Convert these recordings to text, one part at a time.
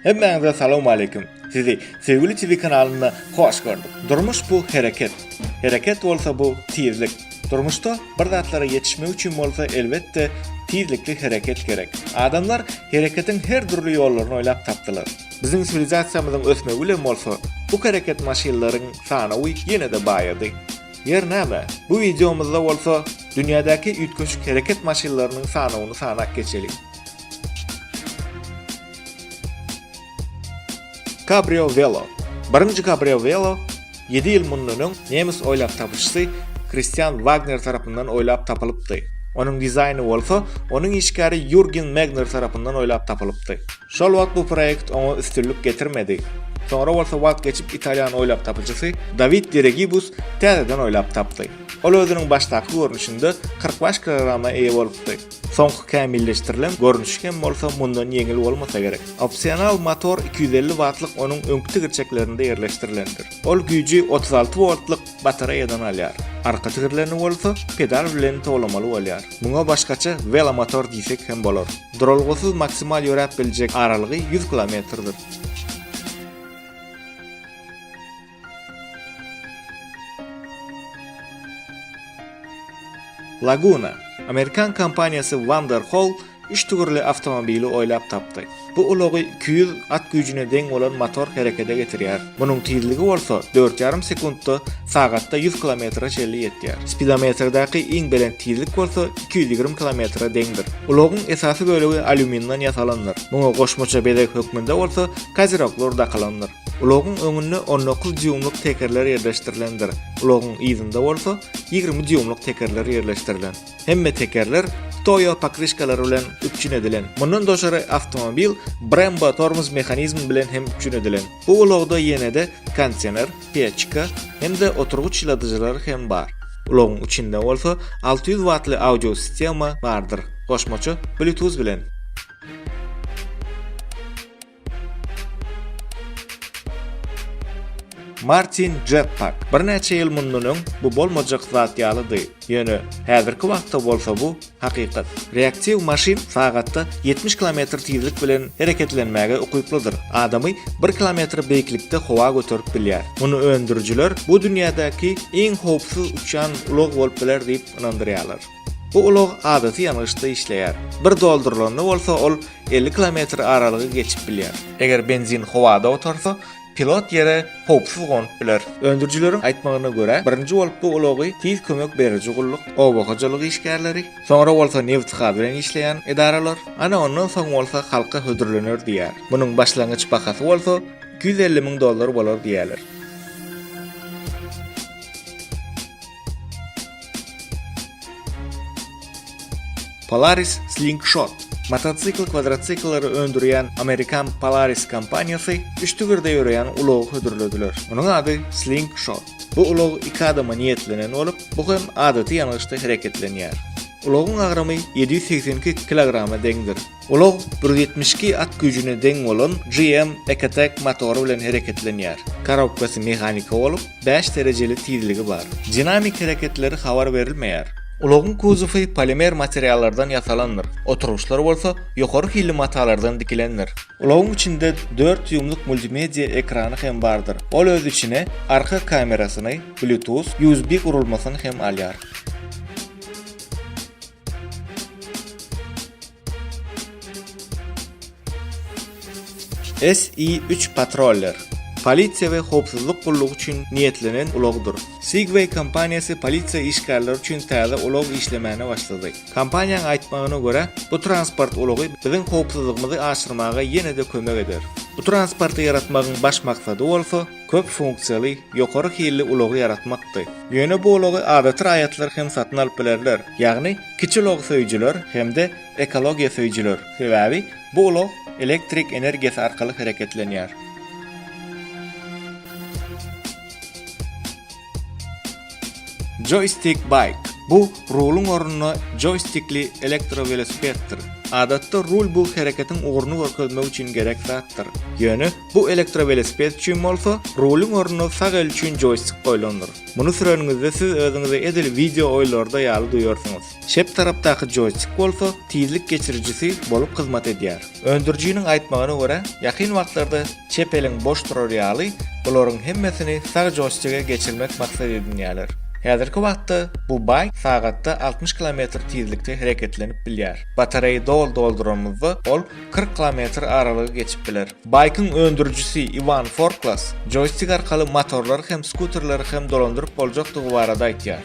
Hemmäňize salam aleýkum. Sizi Söýgüli TV kanalyna hoş gördük. Durmuş bu hereket. Hereket bolsa bu tizlik. Durmuşda bir zatlara ýetişmek üçin bolsa elbetde tizlikli hereket gerek. Adamlar hereketiň her dürli ýollaryny oýlap tapdylar. Biziň siwilizasiýamyzyň ösmegi bilen bolsa bu hereket maşynlaryň sanawy ýene-de baýady. Ýer näme? Bu wideomyzda bolsa dünýädäki üýtgeşik hereket maşynlarynyň sanawyny sanap geçeliň. Cabrio Velo. Birinji Cabrio Velo 7 ýyl mundan öň nemes oýlap tapyşysy Kristian Wagner tarapyndan oýlap tapylypdy. Onuň dizaýny bolsa onuň işgäri Ýurgen Megner tarapyndan oýlap tapylypdy. Şol wagt bu proýekt oňa üstünlik getirmedi. Soňra bolsa wagt geçip italýan oýlap tapyjysy Dawid Diregibus täzeden oýlap tapdy. Ol özüniň başdaky görnüşinde kyrk bäş kilograma eýe bolupdy. Soňky kämilleşdirilen görnüşi hem bolsa mundan ýeňil bolmasa gerek. Opsional motor iki ýüz elli wattlyk onuň öňki tigirçeklerinde ýerleşdirilendir. Ol güýji otuz alty woltlyk batareýadan alýar, arka tigirlerini bolsa pedal bilen tolamaly bolýar. Muňa başgaça welomotor diýsek hem bolar. Duralgasyz maksimal ýöräp biljek aralygy ýüz kilometrdir. Laguna, amerikan kompaniýasy Wanderhall Üç tigirli awtomobili oýlap tapdy. Bu ulagy iki ýüz at güýjüne deň bolan motor herekete getirýär. Munuň tizligi bolsa dört ýarym sekuntda sagatda ýüz kilometre çenli ýetýär. Spidometrdäki iň belent tizlik bolsa iki ýüz ýigrimi kilometre deňdir. Ulagyň esasy bölegi alýumindan ýasalandyr. Muňa goşmaça bezeg hökmünde bolsa koziroglar dakylandyr. Ulagyň öňünde on dokuz dýuýmlyk tekerler ýerleşdirilendir, ulagyň yzynda bolsa ýigrimi dýuýmlyk tekerler ýerleşdirilen. Hemme tekerler Toyo pakryşkalary bilen üpjün edilen. Mundan daşary awtomobil Brembo tormoz mehanizmi bilen hem üpjün edilen. Bu ulagda ýene-de kondisioner, peçka hem-de oturgyç ýyladyjylar hem bar. Ulagyň içinde bolsa 600 wattly audio sistema bardyr, goşmaça Bluetooth bilen. Martin Jetpak birnäçe ýyl mundan öň bu bolmajak zat ýalydy, ýöne häzirki wagtda bolsa bu hakykat. Reaktiw maşyn sagatda ýetmiş kilometr tizlik bilen hereketlenmäge ukyplydyr, adamy bir kilometr beýiklikde howa göterip bilýär. Muny öndürijiler bu dünýädäki iň howpsuz uçýan ulag bolup biler diýip ynandyrýarlar. Bu ulag adaty ýangyçda işleýär. Bir doldurylanda bolsa ol elli kilometr aralygy geçip bilýär. Eger benzin howada otursa, pilot ýere howpsuz gonup biler. Öndürijileriň aýtmagyna görä, birinji bolup bu ulagy tiz kömek beriji gulluk, oba hojalyk işgärleri, soňra bolsa nebitgaz bilen işleýän edaralar, ana ondan soň bolsa halka hödürlener diýýär. Munuň başlangyç bahasy bolsa iki ýüz elli müň dollar bolar diýýärler. Polaris Slingshot Motosikl kwadrosiklleri öndürýän Amerikan Polaris kompaniýasy üç tigirde ýöreýän ulagy hödürlediler. Onuň ady Slingshot. Bu ulag iki adama niýetlenen bolup, bu hem adaty ýangyçda hereketlenýär. Ulagyň agramy ýedi ýüz segsen iki kilograma deňdir. Ulag bir ýüz ýetmiş iki at güýjüne deň bolan GM EcoTec motory bilen hereketlenýär. Korobkasy mehanika bolup, bäş derejeli tizligi bar. Dinamik hereketleri habar berilmeýär. Ulagyň kuzowy polimer materiallardan ýasalandyr, oturgyçlar bolsa ýokary hilli matalardan dikilendir. Ulagyň içinde dört dýuýmlyk multimedia ekrany hem bardyr. Ol öz içine arka kamerasyny, Bluetooth, USB gurulmasyny hem alýar. SI-3 patroller polisiýa we howpsuzlyk gullugy üçin niýetlenen ulagdyr. Segway kompaniýasy polisiýa işgärleri üçin täze ulag işlemäne başlady. Kompaniýanyň aýtmagyna görä, bu transport ulagy biziň howpsuzlygymyzy aşyrmaga ýene-de kömek eder. Bu transporty ýaratmagyň baş maksady bolsa, köp funksiýaly, ýokary hilli ulagy ýaratmakdy. Ýöne bu ulagy adaty raýatlar hem satyn alyp bilerler, ýagny kiçi ulag söýüjiler hem-de ekologiýa söýüjiler, sebäbi bu ulag elektrik energiýasy arkaly hereketlenýär. Joýstik baýk, bu ruluň ornuna joýstikli elektrowelosipeddir. Adatda rul bu hereketiň ugruny görkezmek üçin gerek zatdyr. Ýöne bu elektrowelosiped üçin bolsa, ruluň ornuna sag el üçin joýstik goýlandyr. Muny süreniňizde siz özüňizi edil wideo oýunlarda ýaly duýarsyňyz. Çep tarapdaky joýstik bolsa tizlik geçirijisi bolup hyzmat edýär. Öndürijiniň aýtmagyna görä, ýakyn wagtlarda Çep eliň boş durar ýaly, bularyň hemmesini sag joystige geçirmek maksat edinýärler. Häzirki wagtda bu baý sagatda altmyş kilometr tizlikde hereketlenip bilýär. Batareýa doly dolduranymyzda, ol kyrk kilometr aralygy geçip biler. Baýkyň öndürijisi Iwan Forklas joýstik arkaly motorlary hem skuterleri hem dolandyryp boljakdygy barada aýtýar.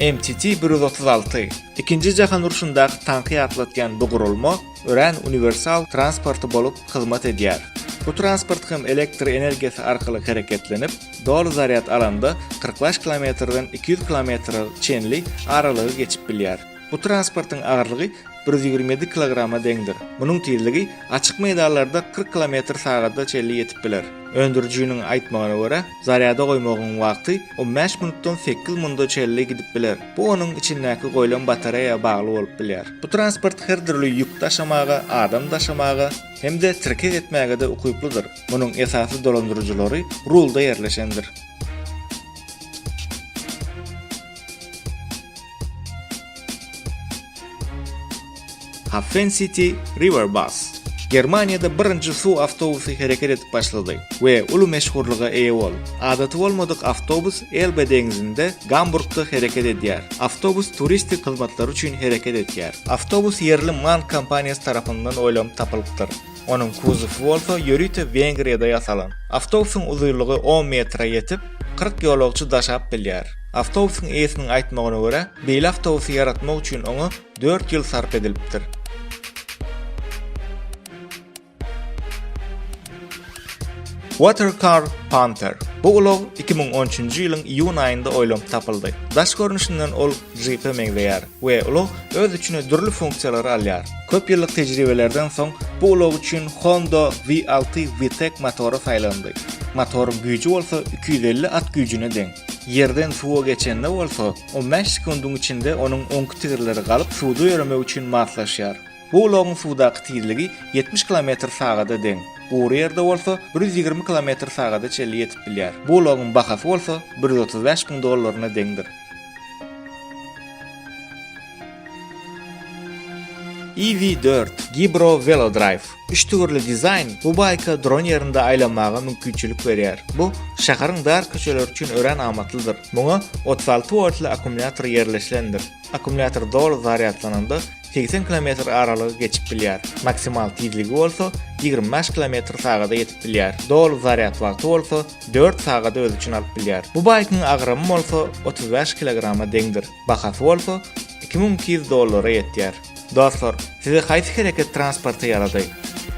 MTT bir ýüz otuz alty, Ikinji jahan urşundaky tanky ýatlatýan bu gurulma örän uniwersal transporty bolup hyzmat edýär. Bu transport hem elektr energiýasy arkaly hereketlenip, doly zarýad alanda kyrk bäş kilometrden iki ýüz kilometre çenli aralygy geçip bilýär. Bu transportyň agyrlygy bir ýüz ýigrimi ýedi kilograma deňdir. Munuň tizligi açyk meýdanlarda kyrk kilometr sagada çenli ýetip biler. Öndürijiniň aýtmagyna görä, zarýada goýmagyň wagty on bäş minutdan sekiz minuda çenli gidip biler, bu onuň içindäki goýlan batareýa bagly bolup bilýär. Bu transport her dürli ýük daşamaga, adam daşamaga hem-de tirkeg etmäge-de ukyplydyr. Munuň esasy dolandyryjylary rulda ýerleşendir. Hafen City River Bus Germaniýada birinji suw awtobusy hereket edip başlady we uly meşhurlyga eýe boldy. Adaty bolmadyk awtobus Elbe deňzinde Gamburgda hereket edýär. Awtobus turistik hyzmatlary üçin hereket etýär. Awtobus ýerli MAN kompaniýasy tarapyndan oýlanyp tapylypdyr. Onuň kuzowy bolsa ýörite Wengriýada ýasalan. Awtobusyň uzynlygy on metre ýetip, kyrk ýolagçy daşap bilýär. Awtobusyň eýesiniň aýtmagyna görä, beýle awtobusy ýaratmak üçin oňa dört ýyl sarp edilipdir. Watercar Panther. Bu ulag iki müň on üçünji ýylyň iýun aýynda oýlanyp tapyldy. Daş görnüşinden ol Jeep-e meňzeýär. we ulag öz içine dürli funksiýalary alýar. Köp ýyllyk tejribelerden soň, bu ulag üçin Honda V alty VTEC motory saýlandy. Motoryň güýji bolsa iki ýüz elli at güýjüne deň. Ýerden suwa geçende bolsa, on bäş sekundyň içinde onuň öňki tigirleri galyp suwda ýöremek üçin maslaşýar. Bu ulagyň suwdaky tizligi ýetmiş kilometr sagada deň, gury ýerde bolsa bir ýüz ýigrimi kilometr sagada çenli ýetip bilýär. Bu ulagyň bahasy bolsa bir ýüz otuz bäş müň dollaryna deňdir. EV4 Gibro Velodrive üç tüwürli dizaýn bu baýka dron ýerinde aýlanmaga mümkinçilik berýär. Bu şäheriň dar köçeleri üçin örän amatlydyr. Muňa otuz alty woltly akkumulýator ýerleşilendir. Akkumulýator doly zarýadlananda segsen kilometr aralygy geçip bilýär, maksimal tizligi bolsa ýigrimi bäş kilometr sagada ýetip bilýär, doly zarýad wagty bolsa dört sagady özi üçin alyp bilýär. Bu baýkyň agramy bolsa otuz bäş kilograma deňdir, bahasy bolsa iki müň iki ýüz dollara ýetýär. Dostlar, sizi haýsy hereket transporty ýarady?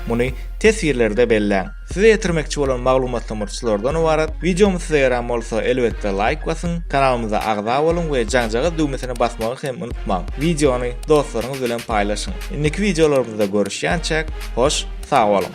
Muny teswirlerde belläň. Size ýetirmekçi bolan maglumatlarymyz şulardan ybarat, wideomyz size ýaran bolsa elbetde laýk basyň, kanalymyza agza boluň we jaňjagaz düwmesine basmagy hem unutmaň. Wideony dostlaryňyz bilen paýlaşyň. Indiki wideolarymyzda görüşýänçäk, hoş. Sag boluň.